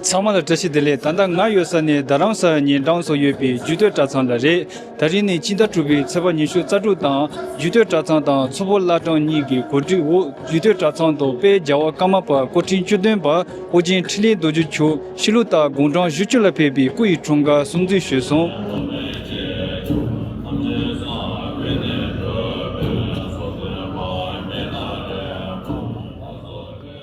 ཚང་མ་ལ་བཀྲ་ཤིས་བདེ་ལེགས་ད་ལྟ་ང་ཡོད་ས་ནས་རྡ་རམ་ས་ལ་ཉིན་གྲངས་སོ་ཡོད་པའི་རྒྱུད་སྟོད་གྲྭ་ཚང་ལ་རེད་ད་རིང་ནི་སྤྱི་ཟླ་དྲུག་པའི་ཚེས་པ་ཉི་ཤུ་རྩ་དྲུག་དང་རྒྱུད་སྟོད་གྲྭ་ཚང་དང་མཚོ་བོད་བླ་བྲང་གཉིས་ཀྱི་གོ་སྒྲིག་འོག་རྒྱུད་སྟོད་གྲྭ་ཚང་དུ་དཔལ་རྒྱལ་བ་ཀརྨ་པ་སྐུ་ཕྲེང་བཅུ་བདུན་པ་ཨོ་རྒྱན་འཕྲིན་ལས་རྡོ་རྗེ་འཁྱུག་ཤི་ལུགས་ལྟར་དགུང་གྲངས་བཞི་བཅུ་ལ་ཕེབས་པའི་སྐུ་ཡི་འཁྲུངས་སྐར་སྲུང་བརྩི་ཞུས་སོང།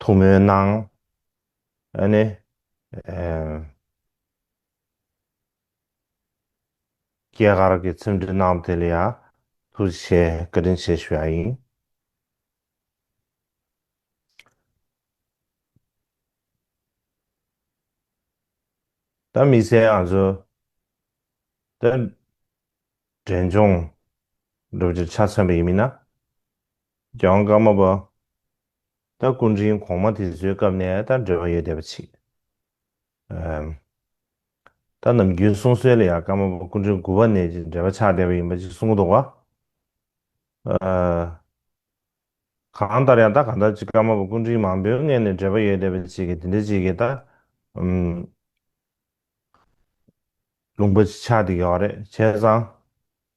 ཐུགས་སྨོན་གནང། ཨ་ནི། སྐྱེས་སྐར་གྱི་ཚིམ་སྒྲིག་གནང་དེ་ལ་ཡང་ཐུགས་རྗེ་ཆེ་བཀའ་དྲིན་ཆེ་ཞུ་ཡ་ཡིན། ད་མི་ཚེ་ང་ཚོ་ད་འབྲས་ལྗོངས་སྒྲུབ་རྒྱུ་ཆ་མཚོན་པ་ཡིན་མིན་ན། གྱང་དཀར་མོ་པདྨ་སྐུ་འཕྲེང་གོང་མ་དེ་ཚོའི་སྐབས་ནས་ད་འབྲེལ་བ་ཡོད་བསྡད་པ་མཆིས། ད་ནམ་རྒྱུན་གསུང་སྲོལ་ལ་ཡང་དཀར་མོ་པདྨ་སྐུ་འཕྲེང་དགུ་བ་ནས་ཀྱི་འབྲེལ་བ་ཆགས་བསྡད་པ་ཡིན་པ་ཅིག་གསུང་གི་འདུག་བ། གང་ལྟར་ཡང་ད་ག་འདྲ་ཅིག་དཀར་མོ་པདྨ་སྐུ་འཕྲེང་མང་པོའི་སྔས་ནས་འབྲེལ་བ་ཡོད་བསྡད་པ་ཅིག་གིས་དེ་འདྲ་ཅིག་གིས་ད་ལུང་པ་ཅིག་ཆགས་བསྡད་ཀྱི་ཡོད་རེད་བྱས་ཙང།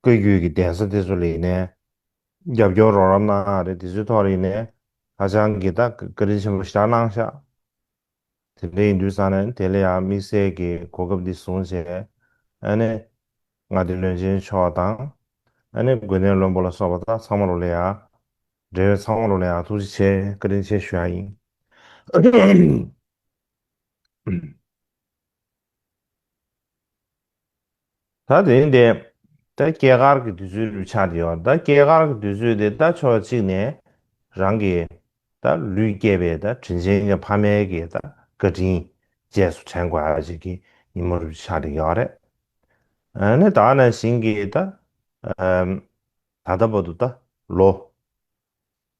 བཀོད་བརྒྱུད་ཀྱི་གདན་ས་དེ་ཚོ་ལས་ནས་རྒྱབ་སྐྱོར་རོགས་རམ་གནང་ཡག་རེད་དེ་ཚོའི་ཐོག་རིག་ནས་ཧ་ཅང་གི་ད་བཀའ་དྲིན་ཆེན་པོ་བཞག་གནང་ཤག་དེ་འདྲ་ཡིན་དུས་ས་ནས་དེ་ལ་ཡང་དམིགས་བསལ་གྱི་གོ་སྐབས་འདི་བཟུང་བྱས་ཨ་ནི་ང་འདི་བློན་ཆེན་མཆོག་དང་ཨ་ནི་དགོན་གནས་བློན་པོ་ལ་སོགས་པ་དག་ཚང་མ་རུ་ལས་ཡག་འབྲེལ་བའི་ཚང་མ་རུ་ལས་ཡག་ཐུགས་རྗེ་ཆེ་བཀའ་དྲིན་ཆེ་ཞུ་ཡག་ཡིན། ད་དེ་ཡིན་ཏེ། ད་སྐྱེས་སྐར་གྱི་དུས་ཚོད་ལུས་ཆགས་དེ་ཡོད། ད་སྐྱེས་སྐར་གྱི་དུས་ཚོད་དེ་ད་ཕྱོགས་གཅིག་ནས་རང་གི་ད་ལུས་སྐྱེས་པའི་ད་དྲིན་ཆེན་གྱི་ཕ་མའི་གི་ད་བཀའ་དྲིན་རྗེས་སུ་དྲན་དགོས་པ་ཞིག་གི་ཉིན་མོ་ལུས་ཆགས་དེ་ཡོད་རེད། ནི་ད་ནང་བཞིན་གྱི་ད། ད་ལྟ་བུ་དུ་ད་ལོ།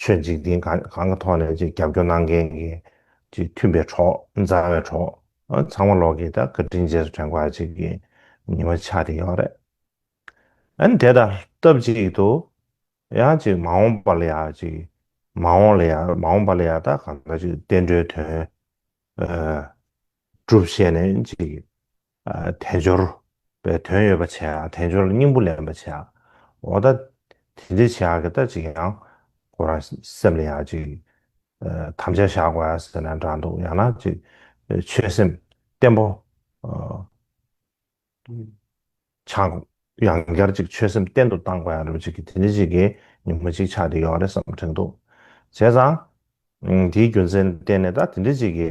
ཆོས་འཇིག་རྟེན་གང་གི་ཐོག་ནས་རྒྱབ་སྐྱོར་གནང་མཁན་གྱི་མཐུན་པའི་གྲོགས་མཛའ་བའི་གྲོགས་ཚང་མ་ལོག་གིས་ད་བཀའ་དྲིན་རྗེས་དྲན་སྐོར་ཅིག་གི་ཉི་མ་འཆར་གྱི་ཡོད་རེད། ཨ་ནི་དེ་ལྟར་སྟབས་ཅིག་ཏུ་ཡང་ཅིག་མ་འོངས་པ་ལ་ཡང་ཅིག་མ་འོངས་ལ་ཡང་མ་འོངས་པ་ལ་ཡང་ད་གང་འདྲ་ཅིག་བསྟན་འགྲོའི་དོན་སྒྲུབ་བྱས་ནས་ཅིག་དལ་འབྱོར་པའི་དོན་ཡོད་པར་བྱས་ཡང་དལ་འབྱོར་ལ་སྙིང་པོ་ལེན་པར་བྱས་འོ་ད་དེ་འདྲའི་བྱས་ཀྱི་ད་ཅིག་ཡང་ཁོ་རང་སེམས་ལ་ཡང་ཅིག་དམ་བཅའ་བཞག་དགོས་ཡ་ཟེར་ན་འདྲ་འདུག་ཡང་ན་ཅིག་ཆོད་སེམས་བརྟན་པོ་ཆགས་ཡང་བསྐྱར་ཅིག་ཆོད་སེམས་བརྟན་དུ་གཏང་དགོས་ཡ་རེད་ཅིག་གི་དེ་འདྲའི་ཅིག་གི་ཉིན་མོ་ཅིག་ཆགས་ཀྱི་ཡོད་རེད་བསམ་དྲན་འདུག་བྱས་ཙང་དེའི་རྒྱུ་མཚན་བསྟན་ནས་ད་དེ་འདྲའི་ཅིག་གི་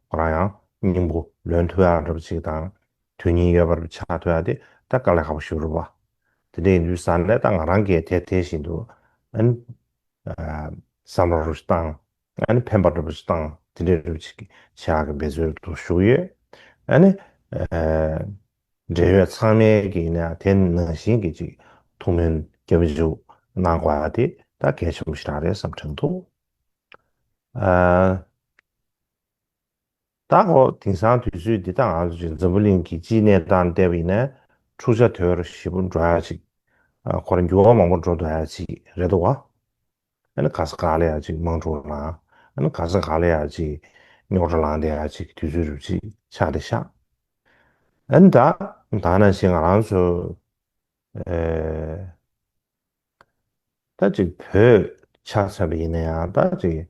རང་ཡང་སྙིང་པོ་ལོན་ཐུབ་ཡག་འགྲུབ་ཅིག་དང། དོན་སྙིང་ཡོད་པར་བྱ་ཐུབ་ཡག་དེ་ད་དཀའ་ལས་ཁག་པོ་ཞུ་རུ་བ། དེ་འདྲ་ཡིན་དུས་ཟ་ལས་ད་ང་རང་གིས་དེ་དེ་བཞིན་དུ་ཨན། བསམ་ར་རུ་བཏང་ཨན་ཕན་པ་འགྲུབ་པ་ཞིག་བཏང་དེ་འདྲ་འགྲུབ་ཅིག་བྱ་ཡག་གི་འབད་རྩོལ་དུ་ཞུགས་ཡོད། ཨན། འབྲེལ་ཡོད་ཚང་མས་ཀྱིས་ན་དེ་ནང་བཞིན་གྱི་ཅིག་ཐུགས་སྨོན་སྐྱབས་འཇུག་གནང་དགོས་པ་དེ་ད་གལ་ཆེན་པོ་ཞིག་རག་རེད་བསམ་དྲན་འདུག། ད་ཨོ་དིང་སང་དུས་ཚོད་འདི་དང་ང་ཚོ་ཅིག་འཛམ་བུ་གླིང་གི་སྤྱིའི་གནས་སྟངས་བལྟས་པ་ཡིན་ན་འཁྲུག་ཆ་དོད་ར་ཞིག་པོ་འགྲོ་ཡ་ཅིག་ཁོ་ར་འགྱུར་བ་མང་པོ་འགྲོ་འདོད་ཡ་ཅིག་རེད་དོ་བ། ཨ་ནི་ག་ས་ག་ལ་ཡ་ཅིག་དམངས་འཁྲུག་ལང་ཨ་ནི་ག་ས་ག་ལ་ཡ་ཅིག་རྙོག་དྲ་ལང་དེ་ཡ་ཅིག་དུས་ཚོད་རུབ་ཅིག་ཆག་དེ་ཤག་ཨ་ནི་ད་ད་ན་ཞིག་ང་རང་ཚོ་ཨེ་ད་ཅིག་བོད་ཆག་ཚར་པ་ཡིན་ན་ཡང་ད་ཅིག།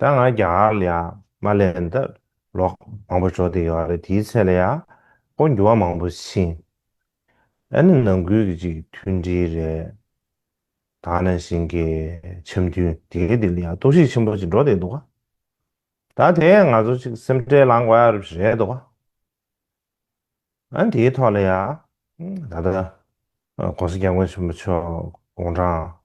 ད་ང་རྒྱ་གར་ལ་ཡང་མ་སླེབས་འདི་ལོག་མང་པོ་འབྱོར་དེ་ཡོད་རེད་དེའི་ཚད་ལ་ཡང་སྐོར་འགྱུར་བ་མང་པོ་ཕྱིན་ཨ་ནི་ནང་ཁུལ་གྱི་གཅིག་མཐུན་སྒྲིལ་རེད་ད་ནས་བཞིན་གྱི་འཆམ་མཐུན་སྒྲིལ་དེ་ལ་ཡང་གཏོར་བཤིག་ཆེན་པོ་ཅིག་འགྲོ་བསྡད་འདུག་ད་དེས་ང་ཚོ་གཅིག་སེམས་ཁྲལ་ལངས་དགོས་རབས་ཞིག་རེད་འདུག་ཨ་དེའི་ཐོག་ལ་ཡང་ད་ལྟ ྋགོང་ས ྋསྐྱབས་མགོན་ཆེན་པོ་མཆོག་དགུང་གྲངས་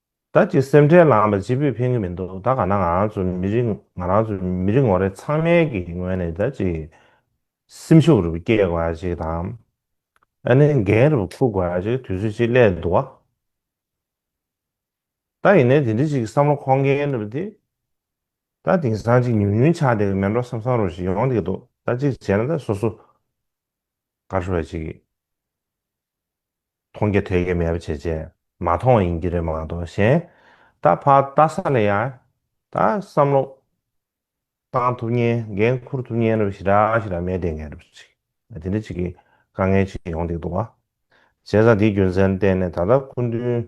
བདག་གི་སེམས་ཁྲལ་ལའང་པ་ཅི་ཕོད་ཕན་གྱི་མི་འདུག་ད་ག་ན་ང་རང་ཚོ་མི་རིགས་ང་རང་ཚོ་མི་རིགས་ངོ་རེ་ཚང་མའི་གི་ངོས་ནས་ད་ཅི་སེམས་ཤུགས་རུ་བསྐྱེད་དགོས་པ་ཅིག་དང། ཨ་ནི་འགན་རུ་བ་ཁུར་དགོས་པ་ཅིག་དུས་ཚོད་ཅིག་སླད་འདུག་བ། ད་ཡིན་ནའི་དེ་འདྲི་ཅིག་བསམ་བློ་འཁོར་མཁན་རུ་བ་དེ་ད་དེང་སང་ཅིག་ཉུང་ཉུང་ཆགས་བསྡད་གི་མེད་འགྲོ་བསམ་བསམ་རུ་ཞིག་ཡོང་བསྡད་གི་འདུག་ད་ཅིག་བྱས་ན་ད་སོ་སོ་དགའ་ཤོས་པ་ཅིག། མཐོང་གི་ཐོས་ཀྱི་མེད་པ་བྱེད་བྱེད་མ་མཐོང་ཡིན་གྱི་རེད་མ་གཏོགས་གཞན་ད་ཕར་ལྟ་ས་ལ་ཡ་ད་བསམ་བློ་བཏང་ཐུབ་ཉེན་འགན་འཁུར་ཐུབ་ཉེན་རེ་བ་ཞིག་རག་ཞིག་རག་མེད་བསྡད་མཁན་རེ་བ་ཞིག་དེ་འདྲ་ཅིག་གི་དཀའ་ངལ་ཅིག་ཡོང་སྡིག་འདུག་བ་བྱས་ཙང་དེའི་རྒྱུ་མཚན་བསྟན་ནས་ད་ལྟ་སྐུ་མདུན་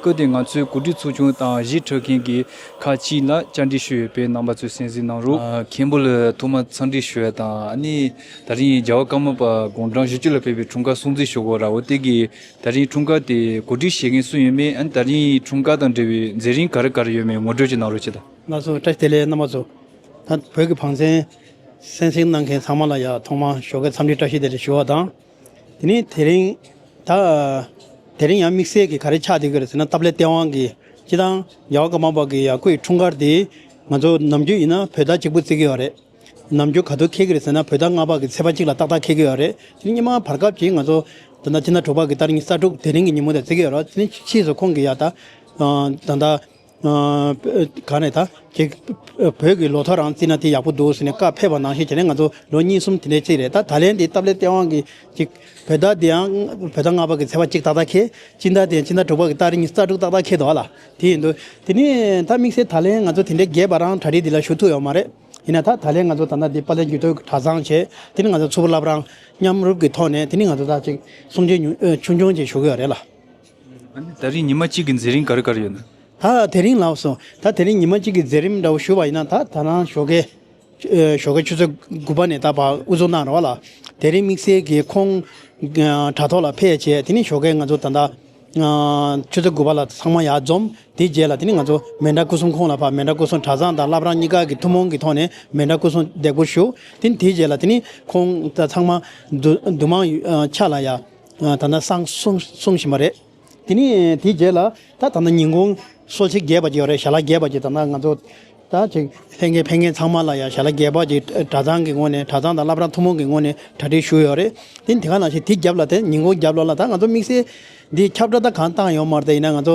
བཀོད་དེ་ང་ཚོའི་གོ་སྒྲིག་ཚོགས་ཆུང་དང་གཞིས་གྲོལ་མཁན་གྱི་ཁག་ཅིག་ལ་བཅར་འདྲི་ཞུས་ཡོད་པའི་རྣམ་པ་ཚོས་གསན་གཟིགས་གནང་རོགས། མཁན་པོ་ལ་ཐོག་མར་འཚམས་འདྲི་ཞུ་བ་དང་ནི། ད་རིང་རྒྱལ་བ་ཀརྨ་པ་དགུང་གྲངས་བཞི་བཅུ་ལ་ཕེབས་པའི་འཁྲུངས་སྐར་སྲུང་བརྩི་ཞུ་སྒོ་ར་བོ་སྟེགས་ཀྱིས་ད་རིང་འཁྲུངས་སྐར་དེ་གོ་སྒྲིག་བྱེད་མཁན་སུ་ཡིན་མིན་ད་རིང་འཁྲུངས་སྐར་དང་འབྲེལ་བའི་མཛད་རིམ་ག་རེ་ག་རེ་ཡོད་མེད་ངོ་སྤྲོད་ཅིག་གནང་རོགས་ཅེས་དང། ང་ཚོ་བཀྲ་ཤིས་བདེ་ལེགས་རྣམ་པ་ཚོ། ད་བོད་ཀྱི་བང་ཆེན་གསན་གཟིགས་གནང་མཁན་ཚང་མ་ལ་ཡང་ཐོག་མར་ཞོགས་ཀའི་འཚམས་འདྲི་བཀྲ་ཤིས་བདེ་ལེགས་ཞུ་བ་དང། དེ་ནས་དེ་རིང་ད། དེ་རིང་ཡང་དམིགས་བསལ་གྱིས་ག་རེ་ཆགས་འདུག་གི་རེད་ཟེར་ན་སྟབས་ལེགས་སྟེས་དབང་གིས་ཅི་དང། རྒྱལ་བ་ཀ་མ་པ་གི་ཡ་ཁུ་ཡི་འཁྲུངས་སྐར་དེ། ང་ཚོ་ནམ་རྒྱུན་ཡིན་ན་བོད་ཟླ་གཅིག་པུ་བརྩི་གི་ཡོད་རེད། ནམ་རྒྱུན་ག་དུས་འཁེལ་གི་རེད་ཟེར་ན་བོད་ཟླ་ལྔ་པ་གི་ཚེས་པ་གཅིག་ལ་ཏག་ཏག་འཁེལ་གི་ཡོད་རེད། དེ་ནི་སྙེ་མ་བར་སྐབས་ཀྱི་ང་ཚོ། ད་ལྟ་ཕྱི་ཟླ་དྲུག་པ་གི་ད་རིང་གི་གསར་འཁྲུག་དེ་རིང་གི་ཉིན་མོ་དེ་བརྩི་གི་ཡོད་རེད། དེ་ནི་ཕྱིས་སུ་ཁོང་གི་ཡ་ད། ད། ག་རེད་ད། ཁྱེད་བོད་ཀྱི་ལོ་ཐོ་རང་བརྩིས་ན་དེ་ཡག་པོ་འདུག་ཟེར་ནས་བཀའ་ཕེབས་པ་ནང་བཞིན་བྱས་ན་ང་ཚོ་ལོ་གཉིས་གསུམ་དེ་འདྲའི་ཚིག་རེད་ད་ད་ལན་འདི་སྟབས་ལེགས་སྟེས་དབང་གིས་བོད་ཟླ་འདི་ཡང་བོད་ཟླ་ལྔ་པ་གི་ཚེས་པ་གཅིག་ཏག་ཏག་ཁེལ་དཔྱིད་ཟླ་དེ་ཡང་ཕྱི་ཟླ་དྲུག་པ་གི་སྟ་རིང་ས་དྲུག་ཏག་ཏག་ཁེལ་འདུག་ལ་དེ་ཡིན་དུས་དེ་ནས་ད་དམིགས་བསལ་ད་ལན་ང་ཚོ་དེ་འདྲའི་རྒས་པ་རང་གྲ་སྒྲིག་འདི་ལ་ཞུགས་ཐུབ་ཡོད་མ་རེད་ཡིན་ན་ད་ད་ལན་ང་ཚོ་ད་ལྟ་འདི་པ་ལས་འགྱུར་ཐོག་གྲ་བཟང་བྱས་དེ་ནས་ང་ཚོ་ཚུར་བསླབ་རང་མཉམ་རུབ་ཀྱི་ཐོག་ནས་དེ་ནས་ང་ཚོ་ད་ཅིག་གསུང་ཆོས་ཆུང་ཆུང་ཅིག་ཞུ་གི་ཡོད་རེད་ལ། ད་རིང་ཉི་མ་གཅིག་གི་མཛད་རིམ་གར་གར་ཡོད་ན། ད་དེ་རིང་ལགས་སོ། ད་དེ་རིང་ཉི་མ་གཅིག་གི་མཛད་རིམ་འདྲ་བོ་ཞུ་བ་ཡིན་ན་ད་ད་རང་ཞོགས་ཀའི་ཞོགས་ཀའི་ཆུ་ཚོད་དགུ་པ་ནས་ད་བར་དབུ་བཟུང་གནང་རོགས་ཨ་ལགས། དེ་རིང་དམིགས་བསལ་གྱི་ཁོང་དྲ་ཐོག་ལ་ཕེབས་བྱས་དེ་ནས་ཞོགས་ཀའི་ང་ཚོ་ད་ལྟ་ཆུ་ཚོད་དགུ་པ་ལ་ཚང་མ་ཡར་འཛོམས་དེའི་རྗེས་ལ་དེ་ནས་ང་ཚོ་མེ་འདྲ་སྐུ་གསུམ་ཁོང་ལ་ཕབ་མེ་འདྲ་སྐུ་གསུམ་གྲྭ་ཚང་དང་བླ་བྲང་གཉིས་ཀ་གི་ཐུན་མོང་གི་ཐོག་ནས་མེ་འདྲ་སྐུ་གསུམ་འདེགས་སྐུར་ཞུ། དེ་ནས་དེའི་རྗེས་ལ་དེ་ནས་ཁོང་ད་ཚང་མ་འདུ་འདུ་མང་ཆ་ལ་ཡར། ད་ནི་སང་སོང་བཞིན་པ་རེད། དེ་ནས་དེའི་རྗེས་ལ་ད་ད་ནི་ཉིན་གུང་གསོལ་ཚིགས་རྒྱས་པ་ཅིག་ཡོད་རེད་ཞལ་ལག་རྒྱས་པ་ཅིག་ད་ནི་ང་ཚོ་ད་ཅིག་ལྷན་རྒྱས་ཕན་མཁན་ཚང་མ་ལ་ཡང་ཞལ་ལག་རྒྱས་པ་ཅིག་གྲྭ་ཚང་གི་ངོས་ནས་གྲྭ་ཚང་དང་བླ་བྲང་ཐུན་མོང་གི་ངོས་ནས་གྲ་སྒྲིག་ཞུས་ཡོད་རེད། དེ་ནི་དེ་ག་ནང་བཞིན་དེའི་རྒྱབ་ལ་དེ་ཉིན་གུང་རྒྱབ་ལོགས་ལ་ད་ང་ཚོ་དམིགས་བསལ་འདི་ཁྱབ་བསྒྲགས་ད་གང་བཏང་ཡོང་མ་རེད་ད་ཡིན་ན་ང་ཚོ་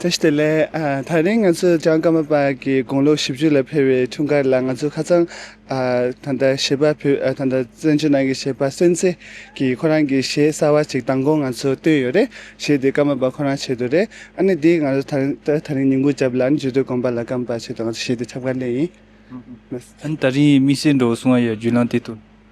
ད་ཞི་དེ་ལས། ད་རིང་ང་ཚོས་ལྕང་སྐར་མ་པ་ཀྱི་དགུང་ལོ་བཞི་བཅུ་ལ་འཕེལ་བའི་འཁྲུངས་སྐར་ལ་ང་ཚོས་ཁ་ཚང་ད་ལྟ་བྱིས་པ་ཕུད་ད་ལྟ་བཙན་བྱོལ་ནང་གི་བྱིས་པ་སོན་ཚེ་ཀྱི་ཁོ་རང་གི་ཞེ་གསར་བ་ཅིག་མདང་དགོང་ང་ཚོས་བཏོན་ཡོད་རེད་ཞེས་དེ་སྐར་མ་པ་ཁོ་རང་བྱེད་དོ་རེད་ཨ་ནི་དེ་ང་ཚོས་ད་རིང་ཉིན་གུང་བརྒྱབ་ལ་ཨ་ནི་བརྗོད་དོན་དགོངས་པ་ལ་སྐམ་པ་བྱེད་དོ་ང་ཚོས་ཞེས་དེ་ཁྱབ་ཁ་ལེན་ཡིན། ཨ་ནི་ད་རིང་མི་སེར་འགྲོ་བ་སོང་བ་ཡོད་རྒྱུས་ལང་དེ་དུ།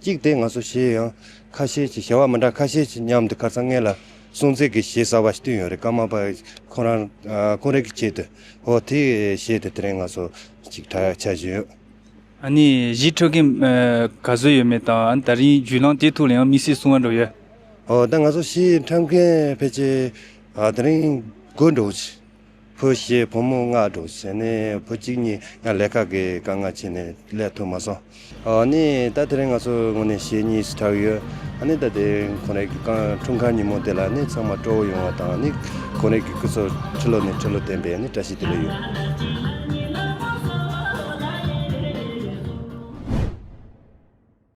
གཅིག་སྟེ་ང་སོ་ཞེས་ཡང་ཁ་ཤས་ཀྱིས་བྱ་བ་མི་འདྲ་ཁ་ཤས་ཀྱིས་ཉམས་འདི་ཁར་ཚང་ངེད་ལ་སྲུང་བརྩི་དགོས་ཞེས་གསར་བ་བསྟུན་ཡོད་རེད་སྐར་མ་པ་ཁོང་རང་ཁོང་རེ་གི་ཆེད་དུ་ཧོ་དེ་བཤད་དེ་དེ་རིང་ང་སོ་ཅིག་གྲྭ་ཆ་བཞི་ཡོད། ཨ་ནི་གཞིས་ཁྲོད་ཀྱི་ག་བཟོད་ཡོད་མེད་དང་ཨ་ནི་ད་རིང་རྒྱུས་ལངས་དེ་ཐུག་ལ་ཡང་དམིགས་བསལ་གསུང་བར་འགྲོ་ཡོད། ཨོ་ད་ང་སོ་ཞེས་འཁྲབ་མཁན་ཕལ་ཆེར་དེ་རིང་དགོད་འགྲོ་གི། བུ་ཞེས་བུ་མོ་མངགས་འགྲོ་བྱས་ནས་བུ་གཅིག་གཉིས་ཡང་ལས་ཁག་གི་དཀའ་ངལ་ཕྱིན་ནས་ལས་ཐུབ་མ་སོང། ནི་ད་དེ་རིང་ང་ཚོ་ངོ་ནས་ཞེ་གཉིས་སུ་གྲགས་ཡོད། ནི་ད་དེ་རིང་ཁོང་རེ་གི་རྐང་འཁྲུངས་ཁང་ཉིན་མོ་དེ་ལ་ནི་ཚང་མ་སྤྲོ་བོ་ཡོང་བ་དང་ནི་ཁོང་རེ་གི་སྐུ་སྲོག་ཁྲི་ལོ་ནས་ཁྲི་ལོ་བརྟན་པའི་ནི་བཀྲ་ཤིས་བདེ་ལེགས་ཡོད།